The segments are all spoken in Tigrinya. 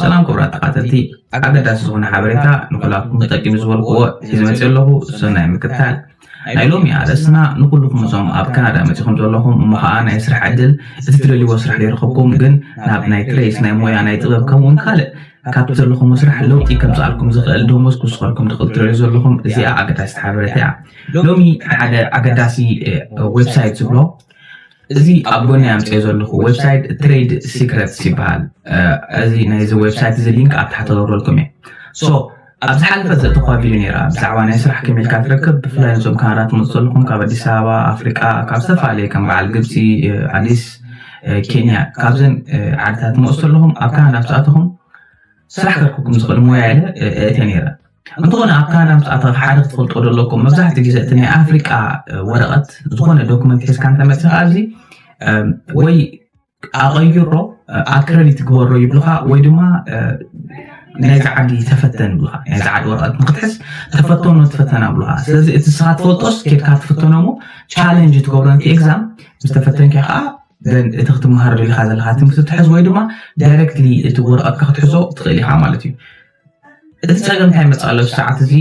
ሰላም ክቡራት ተኻተልቲ ኣገዳሲ ዝኾነ ሓበሬታ ንኩላትኩም ጠቂሙ ዝበልክዎ ሒዘ መፅእ ኣለኹ ሰናይ ምክትታል ናይ ሎሚ ኣርእስትና ንኩልኩም እዞም ኣብ ካናዳ መፂኹም ዘለኹም እሞ ከዓ ናይ ስራሕ ዕድል እቲ ትደልይዎ ስራሕ ዘይረኸብኩም ግን ናብ ናይ ትሬስ ናይ ሞያ ናይ ጥበብ ከምኡውን ካልእ ካብቲ ዘለኹም ስራሕ ለውጢ ከምዝኣልኩም ዝኽእል ደሞዝ ክውስኸልኩም ትኽእል ትረዩ ዘለኹም እዚኣ ኣገዳሲት ሓበሬታ እያ ሎሚ ሓደ ኣገዳሲ ዌብሳይት ዝብሎ እዚ ኣብ ጎነይ ኣምጺኦ ዘለኹ ዌብሳይት ትሬድ ሲክረትስ ይበሃል። እዚ ናይዚ ዌብሳይት እዚ ሊንክ ኣብ ታሕቲ ገብረልኩም እየ። ሶ ኣብ ዝሓለፈ ዘእተኹዋ ቪድዮ ነይራ ብዛዕባ ናይ ስራሕ ከመይ ኢልካ ትረክብ ብፍላይ ነዞም ካናዳ ትመጹ ዘለኹም ካብ ኣዲስ ኣበባ ኣፍሪቃ ካብ ዝተፈላለየ ከም በዓል ግብጺ ኣዲስ ኬንያ ካብዘን ዓድታት ትመጹ ዘለኹም ኣብ ካናዳ ምስ ኣተኹም ስራሕ ከርክኩም ዝኽእል ሞያ ኢለ እእትየ ነይረ። እንተኾነ ኣብ ካናዳ ምስ ኣተኻ ሓደ ክትፈልጦ ዘለኩም መብዛሕትኡ ግዜ እቲ ናይ ኣፍሪቃ ወረቐት ዝኾነ ዶክመንት ሒዝካ እንተመፅኻ ኣብዚ ወይ ኣቐይሮ ኣክረዲት ግበሮ ይብልኻ ወይ ድማ ናይዚ ዓዲ ተፈተን ይብልኻ ናይዚ ዓዲ ወረቐት ንክትሕዝ ተፈተኖ ትፈተና ብልኻ ስለዚ እቲ ስኻ ትፈልጦስ ኬድካ ትፍተኖ ሞ ቻለንጅ ትገብሮ ንቲ ኤግዛም ምስ ተፈተንካ ከዓ እቲ ክትመሃረሉ ኢኻ ዘለካ ትምህርቲ ትሕዝ ወይ ድማ ዳይረክትሊ እቲ ወረቐትካ ክትሕዞ ትኽእል ኢኻ ማለት እዩ እቲ ፀገም እንታይ መፅእ ኣሎ ሰዓት እዚ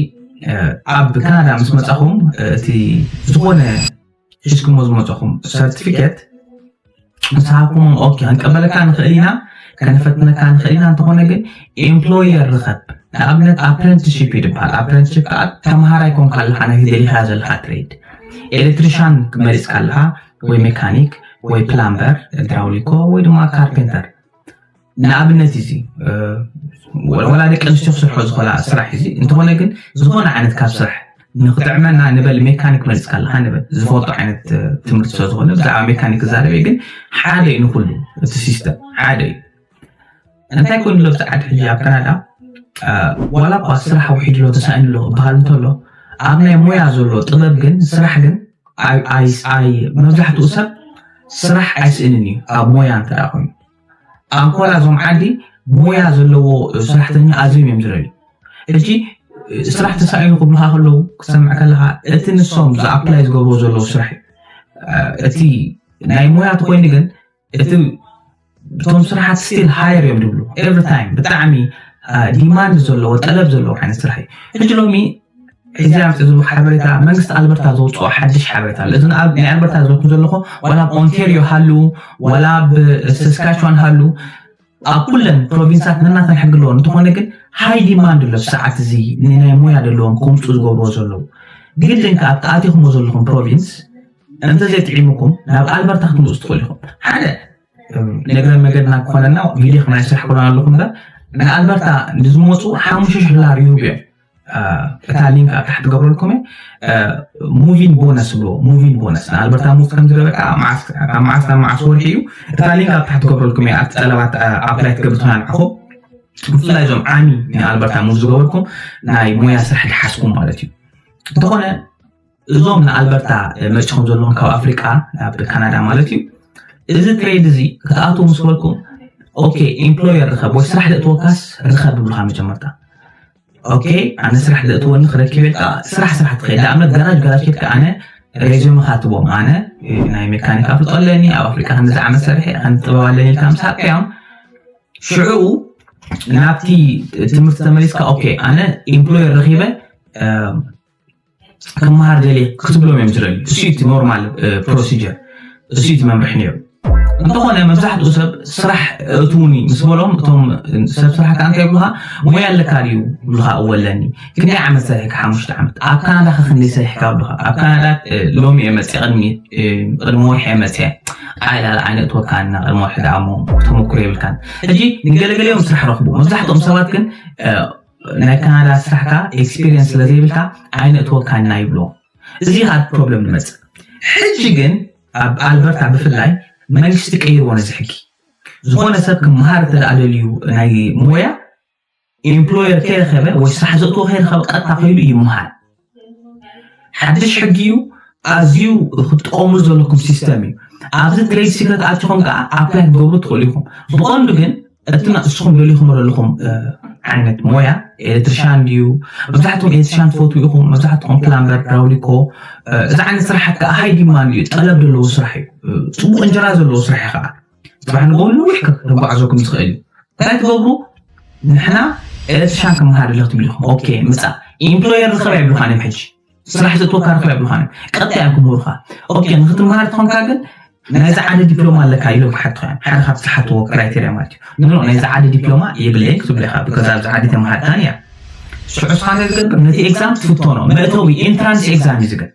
ኣብ ካናዳ ምስ መፃኹም እቲ ዝኾነ ሒዝኩሞ ዝመፀኹም ሰርቲፊኬት ምስ ሃብኩሞም ኦኬ ክንቀበለካ ንኽእል ኢና ከነፈትነካ ንኽእል ኢና እንተኾነ ግን ኤምፕሎየር ርኸብ ንኣብነት ኣፕረንትሽፕ እዩ ዝበሃል ኣፕረንትሽፕ ከዓ ተምሃራይ ኮንካ ኣለካ ነቲ ደሊኻ ዘለካ ትሬድ ኤሌክትሪሻን መሪፅካ ኣለካ ወይ ሜካኒክ ወይ ፕላምበር ድራውሊኮ ወይ ድማ ካርፔንተር ንኣብነት እዚ ወላ ደቂ ኣንስትዮ ክስርሖ ዝኽእላ ስራሕ እዚ እንተኾነ ግን ዝኾነ ዓይነት ካብ ስራሕ ንክጥዕመና ንበል ሜካኒክ መሪፅካ ኣለካ ንበል ዝፈልጦ ዓይነት ትምህርቲ ስለ ዝኾነ ብዛዕባ ሜካኒክ ዛረበ ግን ሓደ እዩ ንኩሉ እቲ ሲስተም ሓደ እዩ እንታይ ኮይኑ ሎ ብዛዕድ ሕጂ ኣብ ካናዳ ዋላ እኳ ስራሕ ውሒድ ሎ ተሳኢኑ ሎ እበሃል እንተሎ ኣብ ናይ ሞያ ዘሎ ጥበብ ግን ስራሕ ግን መብዛሕትኡ ሰብ ስራሕ ኣይስእንን እዩ ኣብ ሞያ እንተ ኮይኑ ኣንኮላ እዞም ዓዲ ሞያ ዘለዎ ስራሕተኛ ኣዝዮም እዮም ዝረዩ እጂ ስራሕ ተሳኢኑ ክብሉካ ከለዉ ክሰምዕ ከለካ እቲ ንሶም ዝኣፕላይ ዝገብርዎ ዘለዉ ስራሕ እቲ ናይ ሞያ ተኮይኑ ግን እቲ እቶም ስራሓት ስቲል ሃየር እዮም ዝብሉ ኤቭሪ ታይም ብጣዕሚ ዲማንድ ዘለዎ ጠለብ ዘለዎ ዓይነት ስራሕ እዩ ሕጂ ሎሚ ሕዚ ኣብዚ ዝቡ ሓበሬታ መንግስቲ ኣልበርታ ዘውፅኦ ሓድሽ ሓበሬታ ኣሎ እዚ ኣብ ናይ ኣልበርታ ዘለኩም ዘለኹ ዋላ ኣብ ኦንቴርዮ ሃሉ ዋላ ኣብ ሰስካችዋን ሃሉ ኣብ ኩለን ፕሮቪንሳት ነናተን ሕጊ ኣለዎ እንተኾነ ግን ሃይ ዲማንድ ኣሎ ሰዓት እዚ ንናይ ሞያ ዘለዎም ከምፁ ዝገብርዎ ዘለዉ ግድን ከዓ ኣብቲ ኣቲኹሞ ዘለኹም ፕሮቪንስ እንተዘይጥዒሙኩም ናብ ኣልበርታ ክትምፁ ትኽእሉ ኢኹም ሓደ ነገረ መገድና ክኾነና ቪድዮ ክናይ ስራሕ ክሎና ኣለኹ እምበር ንኣልበርታ ንዝመፁ ሓሙሽተ ሽሕ ዶላር ይህቡ እዮም እታ ሊንክ ኣብ ታሕቲ ገብረልኩም ሙቪን ቦነስ ብሎ ሙቪን ቦነስ ንኣልበርታ ሙቭ ከም ዝገበ ካብ መዓስ ናብ መዓስ ወርሒ እዩ እታ ሊንክ ኣብ ታሕቲ ገብረልኩም እያ ኣብቲ ጠለባት ኣፕላይ ትገብር ትኾና ንዓኹም ብፍላይ እዞም ዓሚ ንኣልበርታ ሙቭ ዝገበርኩም ናይ ሞያ ስራሕ ድሓስኩም ማለት እዩ እንተኾነ እዞም ንኣልበርታ መርጭኹም ዘለዎም ካብ ኣፍሪቃ ናብ ካናዳ ማለት እዩ እዚ ትሬድ እዚ ክትኣትዉ ምስ በልኩም ኦኬ ኤምፕሎየር ርኸብ ወይ ስራሕ ዘእትወካስ ርኸብ ብብልካ መጀመርታ ኦኬ ኣነ ስራሕ ዘእትወኒ ክረክብ ኢልካ ስራሕ ስራሕ ትኸይድ ንኣብነት ጋራጅ ጋራጅ ኬድካ ኣነ ሬዚዩም ካትቦም ኣነ ናይ ሜካኒክ ኣፍልጦ ኣለኒ ኣብ ኣፍሪቃ ከምዚ ዓመት ሰርሐ ከም ጥበብ ኣለኒ ኢልካ ምስ ሃብካዮም ሽዑኡ ናብቲ ትምህርቲ ተመሊስካ ኦኬ ኣነ ኤምፕሎየር ረኺበ ክመሃር ደልየ ክትብሎም እዮም ዝደልዩ እሱ እቲ ኖርማል ፕሮሲጀር እሱ እቲ መምርሒ ነይሩ እንተኾነ መብዛሕትኡ ሰብ ስራሕ እትውኒ ምስ በሎም እቶም ሰብ ስራሕ ከዓ እንታይ ይብሉካ ሙያ ኣለካ ድዩ ይብሉካ እወ ኣለኒ ክንደይ ዓመት ሰሪሕካ ሓሙሽተ ዓመት ኣብ ካናዳ ከ ክንደይ ሰሪሕካ ይብሉካ ኣብ ካናዳ ሎሚ እየ መፅአ ቅድሚ ቅድሚ ወርሒ እየ መፅአ ኣይ ላል ዓይነ እትወካን እና ቅድሚ ወርሒ ደኣ እሞ ተመኩሮ የብልካን ሕጂ ንገለገሊኦም ስራሕ ረኽቡ መብዛሕትኦም ሰባት ግን ናይ ካናዳ ስራሕካ ኤክስፒሪየንስ ስለዘይብልካ ኣይነእትወካን ኢና ይብልዎ እዚ ካብ ፕሮብለም ንመፅእ ሕጂ ግን ኣብ ኣልበርታ ብፍላይ መንግስቲ ቀይርዎ ነዚ ሕጊ ዝኾነ ሰብ ክምሃር እንተ ደልዩ ናይ ሞያ ኢምፕሎየር ከይረኸበ ወይ ስራሕ ዘእትዎ ከይረኸበ ቀጥታ ከይዱ ይምሃር ሓድሽ ሕጊ እዩ ኣዝዩ ክትጥቀምሉ ዘለኩም ሲስተም እዩ ኣብዚ ግሬድ ሲ ከተኣትኹም ከዓ ኣፕላይ ክትገብሩ ትኽእሉ ኢኹም ብቐንዱ ግን እቲ ንስኹም ደሊኹም ዘለኹም ዓይነት ሞያ ኤሌክትሪሻን ድዩ መብዛሕትኩም ኤሌክትሪሻን ትፈትው ኢኹም መብዛሕትኩም ፕላምበር ራውሊኮ እዚ ዓይነት ስራሓት ከዓ ሃይ ዲማንድ እዩ ጠለብ ዘለዎ ስራሕ እዩ ፅቡቅ እንጀራ ዘለዎ ስራሕ እዩ ከዓ ጥራሕ ንጎ ንዊሕ ከጓዕዘኩም ዝኽእል እዩ እንታይ ትገብሩ ንሕና ኤሌክትሪሻን ክመሃር ኣለኽ ትብሉ ኢኹም ኦኬ ምፃ ኢምፕሎየር ርኸብ ኣይብሉኻን እዮም ሕጂ ስራሕ ዘእትወካ ርኸብ ኣይብሉኻን እዮም ቀጣይ እዮም ክምህሩኻ ኦኬ ንክትመሃር ትኾንካ ግን ናይዚ ዓደ ዲፕሎማ ኣለካ ኢሎም ክሓትኻ እዮም ሓደ ካብቲ ዝሓትዎ ክራይቴሪያ ማለት እዩ ኖ ናይዚ ዓደ ዲፕሎማ የብለይን ክትብለ ኢኻ ብከዛ ኣብዚ ዓዲ ተመሃርካን እያ ሽዑ ስኻ እንታይ ዝገብር ነቲ ኤግዛም ትፍተኖ መእተዊ ኢንትራንስ ኤግዛም እዩ ዝገብር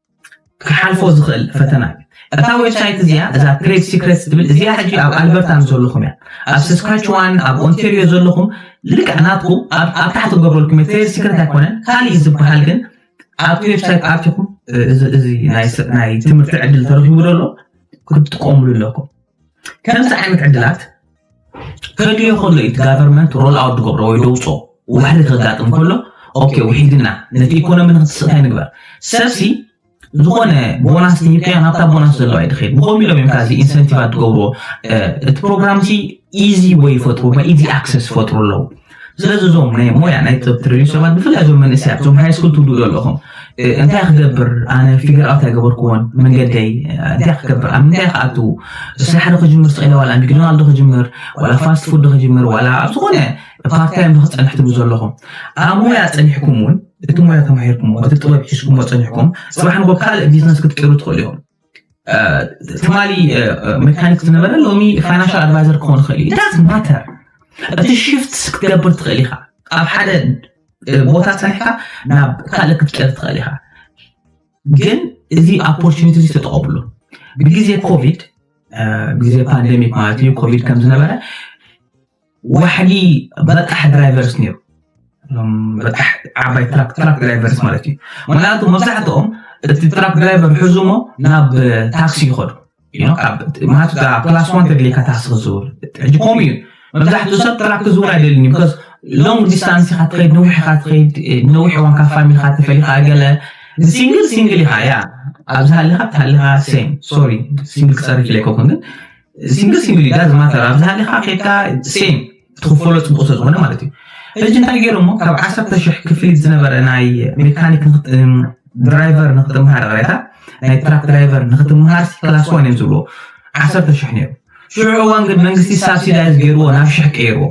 ክሓልፎ ዝኽእል ፈተና እዩ እታ ዌብሳይት እዚኣ እዛ ትሬድ ሲክሬትስ ትብል እዚኣ ሕጂ ኣብ ኣልበርታ ምስ ዘለኹም እያ ኣብ ሰስካችዋን ኣብ ኦንቴሪዮ ዘለኹም ልክዕ ናትኩም ኣብ ታሕቲ ገብረልኩም ትሬድ ሲክሬት ኣይኮነን ካልእ ዝበሃል ግን ኣብቲ ዌብሳይት ኣርቲኹም እዚ ናይ ትምህርቲ ዕድል ተረኪቡ ዘሎ ክትጥቀምሉ ኣለኩም ከምዚ ዓይነት ዕድላት ከድልዮ ከሎ እዩ ጋቨርንመንት ሮል ኣውት ዝገብሮ ወይ ደውፆ ዋሕዲ ከጋጥም ከሎ ኦኬ ውሒድና ነቲ ኢኮኖሚ ንክስእ እንታይ ንግበር ሰብሲ ዝኾነ ቦናስ ትሂብካዮ ናብታ ቦናስ ዘለዋ ይድኸድ ብኸምኡ ኢሎም እዮም ካዚ ኢንሰንቲቫት ትገብርዎ እቲ ፕሮግራም ሲ ኢዚ ወይ ይፈጥሩ ኢዚ ኣክሰስ ይፈጥሩ ኣለዉ ስለዚ እዞም ናይ ሞያ ናይ ጥብ ትሪዩ ሰባት ብፍላይ እዞም መንእሰያት እዞም ሃይ ስኩል ትብሉ ዘለኹም እንታይ ክገብር ኣነ ፊገር ኣውት ኣይገበርኩዎን መንገደይ እንታይ ክገብር ኣብ ምንታይ ክኣትዉ ስራሕ ዶ ክጅምር ስቂለ ዋላ ሚክዶናልድ ዶ ክጅምር ዋላ ፋስት ፉድ ዶ ክጅምር ዋላ ኣብ ዝኾነ ፓርታይም ዶ ክፀንሕ ትብሉ ዘለኹም ኣብ ሞያ ፀኒሕኩም እውን እቲ ሞያ ተማሂርኩሞ እቲ ጥበብ ሒዝኩሞ ፀኒሕኩም ፅባሕ ንጎ ካልእ ቢዝነስ ክትቅይሩ ትኽእሉ እዮም ትማሊ ሜካኒክ ዝነበረ ሎሚ ፋይናንሻል ኣድቫይዘር ክኾን ይኽእል እዩ ዳት ማተር እቲ ሽፍት ክትገብር ትኽእል ኢኻ ኣብ ሓደ ቦታ ፀኒሕካ ናብ ካልእ ክትቀር ትኽእል ኢኻ ግን እዚ ኦፖርቹኒቲ እዚ ተጠቐምሉ ብግዜ ኮቪድ ግዜ ፓንደሚክ ማለት እዩ ኮቪድ ከም ዝነበረ ዋሕዲ በጣሕ ድራይቨርስ ነይሩ በጣሕ ዓባይ ትራክ ትራክ ድራይቨርስ ማለት እዩ ምክንያቱ መብዛሕትኦም እቲ ትራክ ድራይቨር ሕዙሞ ናብ ታክሲ ይኸዱ ማለት ክላስ ዋን ተደሊካ ታክሲ ክዝውር ሕጂ ከምኡ እዩ መብዛሕትኡ ሰብ ትራክ ክዝውር ኣይደልን እዩ ቢካዝ ሎንግ ዲስታንስ ኢካ ትኸይድ ነዊሕ ኢካ ትኸይድ ነዊሕ እዋን ካብ ፋሚልካ ተፈሊካ ገለ ሲንግል ሲንግል ኢካ ያ ኣብዚ ሃሊካ ትሃሊካ ሴም ሶሪ ሲንግል ክፀርፍ ኢለ ኣይኮንኩን ግን ሲንግል ሲንግል ዳዝ ማተር ኣብ ዝሃሊኻ ከይድካ ሴም ትኽፈሎ ፅቡቅ ስለዝኾነ ማለት እዩ ሕጂ እንታይ ገይሮሞ ካብ ዓሰርተ ሽሕ ክፍሊት ዝነበረ ናይ ሜካኒክ ድራይቨር ንክትምሃር ሬታ ናይ ትራክ ድራይቨር ንክትምሃር ክላስ ዋን እዮም ዝብልዎ ዓሰርተ ሽሕ ነይሩ ሽዑ እዋን ግን መንግስቲ ሳብሲዳይዝ ገይርዎ ናብ ሽሕ ቀይርዎ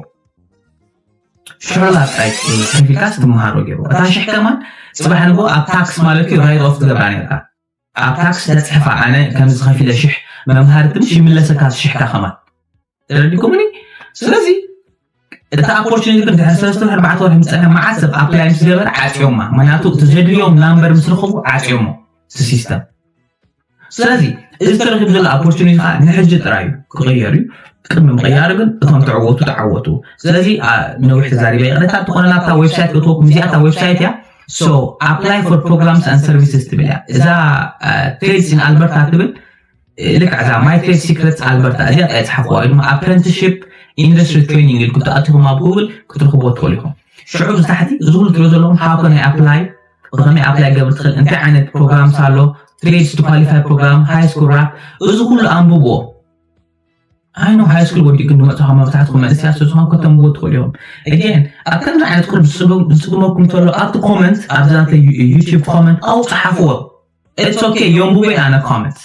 ሽዑ ናብ ጥራይ ከፊልካስ ትምሃሮ ገይርዎ እታ ሽሕ ከማን ፅባሕ ንግሆ ኣብ ታክስ ማለት እዩ ራይት ኦፍ ትገብራ ነርካ ኣብ ታክስ ተጽሕፋ ኣነ ከምዚ ከፊለ ሽሕ መምሃሪ ትንሽ ይምለሰካ ሽሕካ ከማን ተረዲኩምኒ ስለዚ እቲ ኣፖርቹኒቲ ግን ድሕሪ ሰለስተ ኣርባዕተ ወርሒ ምስ ፀንሐ መዓት ሰብ ኣፕላይ ምስ ገበረ ዓፅዮማ ምክንያቱ እቲ ዘድልዮም ናምበር ምስ ረኽቡ ዓፅዮሞ እቲ ሲስተም ስለዚ እዚ ተረኪቡ ዘሎ ኣፖርቹኒቲ ከዓ ንሕጂ ጥራይ እዩ ክቕየር እዩ ቅድሚ ምቕያሩ ግን እቶም ተዕወቱ ተዓወቱ ስለዚ ነዊሕ ተዛሪበ ይቕረታ ትኾነ ናብታ ዌብሳይት እትወኩም እዚኣ እታ ዌብሳይት እያ ሶ ኣፕላይ ፎር ፕሮግራምስ ኣን ሰርቪስስ ትብል እያ እዛ ትሬድስ ን ኣልበርታ ትብል ልክዕ እዛ ማይ ትሬድ ሲክረትስ ኣልበርታ እዚኣ ጣይ ፅሓፍዋ ወይ ድማ ኣፕረንትሽፕ ኢንዱስትሪ ትሬኒንግ ኢልኩም ተኣትኹም ኣብ ጉግል ክትረኽቦ ትኽእሉ ኢኹም ሽዑ እዚ ታሕቲ እዚ ኩሉ ትሪኦ ዘለኹም ሃው ከናይ ኣፕላይ ብኸመይ ኣፕላይ ገብር ትኽእል እንታይ ዓይነት ፕሮግራምስ ኣሎ ትሬድስ ቱ ኳሊፋይ ፕሮግራም ሃይ ስኩል ራፕ እዚ ኩሉ ኣንብብዎ ኣይኖ ሃይስኩል ወዲእኩም ዝመፅኹም መብዛሕትኩም መንእሰያት ስለዝኾኑ ከተንብቡ ትኽእሉ እዮም ኣጌን ኣብ ከምዚ ዓይነት ቁር ዝፅግመኩም እንተሎ ኣብቲ ኮመንት ኣብዛ ዩቲብ ኮመንት ኣው ፀሓፍዎ ኢትስ ኦኬ የንብቦ ኣነ ኮመንት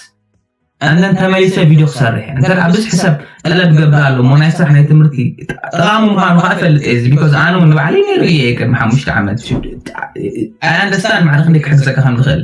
ኣነን ተመሊሰ ቪድዮ ክሰርሕ እንተ ብዝሒ ሰብ ጠለብ ገብር ኣሎ እሞ ናይ ስራሕ ናይ ትምህርቲ ጠቓሚ ምዃኑ ከዓ እፈልጥ እዚ ቢኮዝ ኣነ እውን ንባዕለይ ነይሩ እየ ቅድሚ ሓሙሽተ ዓመት ኣይ ኣንደርስታንድ ማዕረ ክንደይ ክሕግዘካ ከም ዝኽእል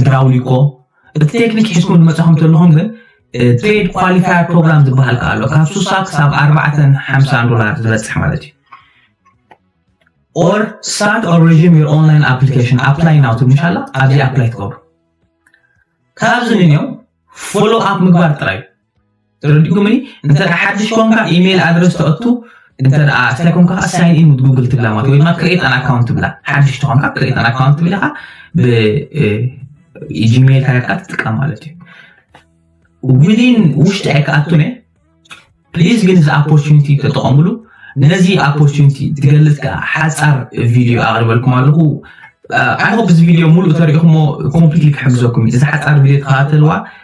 ድራውሊኮ እቲ ቴክኒክ ሒዝኩም ዝመፃኹም ተለኹም ግን ትሬድ ኳሊፋየር ፕሮግራም ዝበሃል ከዓ ኣሎ ካብ ሱሳ ክሳብ ኣርባዕተን ሓምሳን ዶላር ዝበፅሕ ማለት እዩ ኦር ስታርት ኦር ሬዥም ዮር ኦንላይን ኣፕሊኬሽን ኣፕላይ ናው ትብልሽ ኣላ ኣብዚ ኣፕላይ ትገብሩ ካብዚ ንኒው ፎሎ ኣፕ ምግባር ጥራይ እዩ ተረዲኡኩምኒ እንተ ሓድሽ ኮንካ ኢሜይል ኣድረስ ተእቱ እንተ ስታይ ኮንካ ከዓ ሳይን ኢን ዊዝ ጉግል ትብላ ማለት ወይ ድማ ክሬት ኣን ኣካውንት ትብላ ሓድሽ ተኾንካ ክሬት ኣን ኣካውንት ትብል ኢኻ ብጂሜይል ካርታ ትጥቀም ማለት እዩ ዊን ውሽጢ ኣይከኣቱን እየ ፕሊዝ ግን እዚ ኦፖርቹኒቲ ተጠቐምሉ ነዚ ኦፖርቹኒቲ ትገልፅ ከዓ ሓፃር ቪድዮ ኣቕርበልኩም ኣለኹ ኣይሆፕ እዚ ቪድዮ ሙሉእ ተሪኢኹሞ ኮምፕሊትሊ ክሕግዘኩም እዩ እዚ ሓፃር ቪድዮ ተኸታተልዋ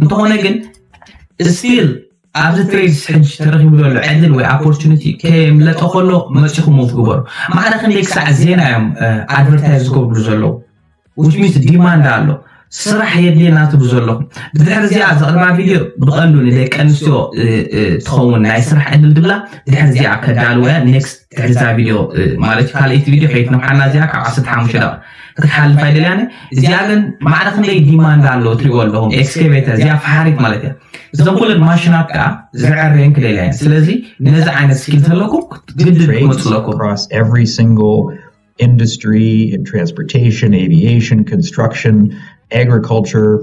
እንተኾነ ግን ስቲል ኣብዚ ትሬዝ ሕጂ ተረኪቡ ዘሎ ዕድል ወይ ኦፖርቹኒቲ ከየምለጠ ከሎ መፂኹም ሞቭ ግበሩ ማዕረ ክንደይ ክሳዕ ዜና እዮም ኣድቨርታይዝ ዝገብሩ ዘለዉ which means ዲማንድ ኣሎ ስራሕ የድልየና ትብሉ ዘለኹም ብድሕሪ እዚኣ ዘቕርባ ቪድዮ ብቐንዱ ንደቂ ኣንስትዮ ትኸውን ናይ ስራሕ ዕድል ድብላ ድሕሪ እዚኣ ከዳልወያ ኔክስት ድሕሪ እዛ ቪድዮ ማለት ካልኣይቲ ቪድዮ ከይትነውሓና እዚኣ ካብ 15 ደቂ ክትሓልፍ ኣይደልያን እዚኣ ግን ማዕረ ክንደይ ዲማንድ ኣሎ ትሪእዎ ኣለኹም ኤክስኬቬተር እዚኣ ፈሓሪት ማለት እያ እዞም ኩለን ማሽናት ከዓ ዝዕረየን ክደልያ እየን ስለዚ ነዚ ዓይነት ስኪል ተለኩም ግድድ ክመፁ ኣለኩም industry in transportation, aviation, construction, agriculture,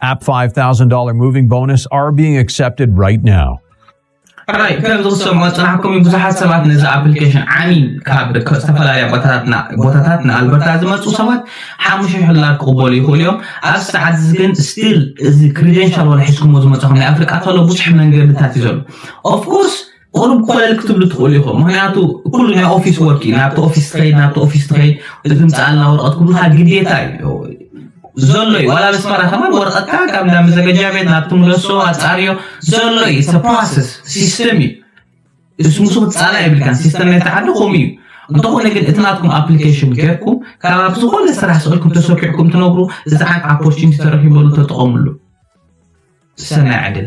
App $5,000 moving bonus are being accepted right now. ሕራይ ከም ዝኽሰሙ ኣፅናሕኩም ብዙሓት ሰባት ነዚ ኣፕሊኬሽን ዓሚ ካብ ዝተፈላለያ ቦታታት ንኣልበርታ ዝመፁ ሰባት ሓሙሽ ሕላር ክቕበሉ ይኽእሉ እዮም ኣብ ሰዓት እዚ ግን ስቲል እዚ ክሪደንሻል ወላ ሒዝኩሞ ዝመፅኹም ናይ ኣፍሪቃ ተሎ ብዙሕ መንገድታት እዩ ዘሎ ኦፍኮርስ ቁሩብ ኮለል ክትብሉ ትኽእሉ ኢኹም ምክንያቱ ኩሉ ናይ ኦፊስ ወርክ እዩ ናብቲ ኦፊስ ትኸይድ ናብቲ ኦፊስ ትኸይድ እዚ ምፅኣልና ወረቐት ክብሉካ ግዴታ እዩ ዘሎ እዩ ዋላ ኣስመራ ከማን ወረቐትካ ካብ እንዳ መዘገጃ ቤት ናብቲ ምለሶ ኣፃርዮ ዘሎ እዩ ስ ፕሮሰስ ሲስተም እዩ እሱ ምስ ክፃላ የብልካን ሲስተም ናይቲ ዓዲ ከምኡ እዩ እንተኾነ ግን እቲ ናትኩም ኣፕሊኬሽን ጌርኩም ካብ ኣብ ዝኾነ ስራሕ ስእልኩም ተሰኪዕኩም ትነብሩ እዚ ዓን ኣፖርቹኒቲ ተረኪበሉ ተጠቐምሉ ሰናይ ዕድል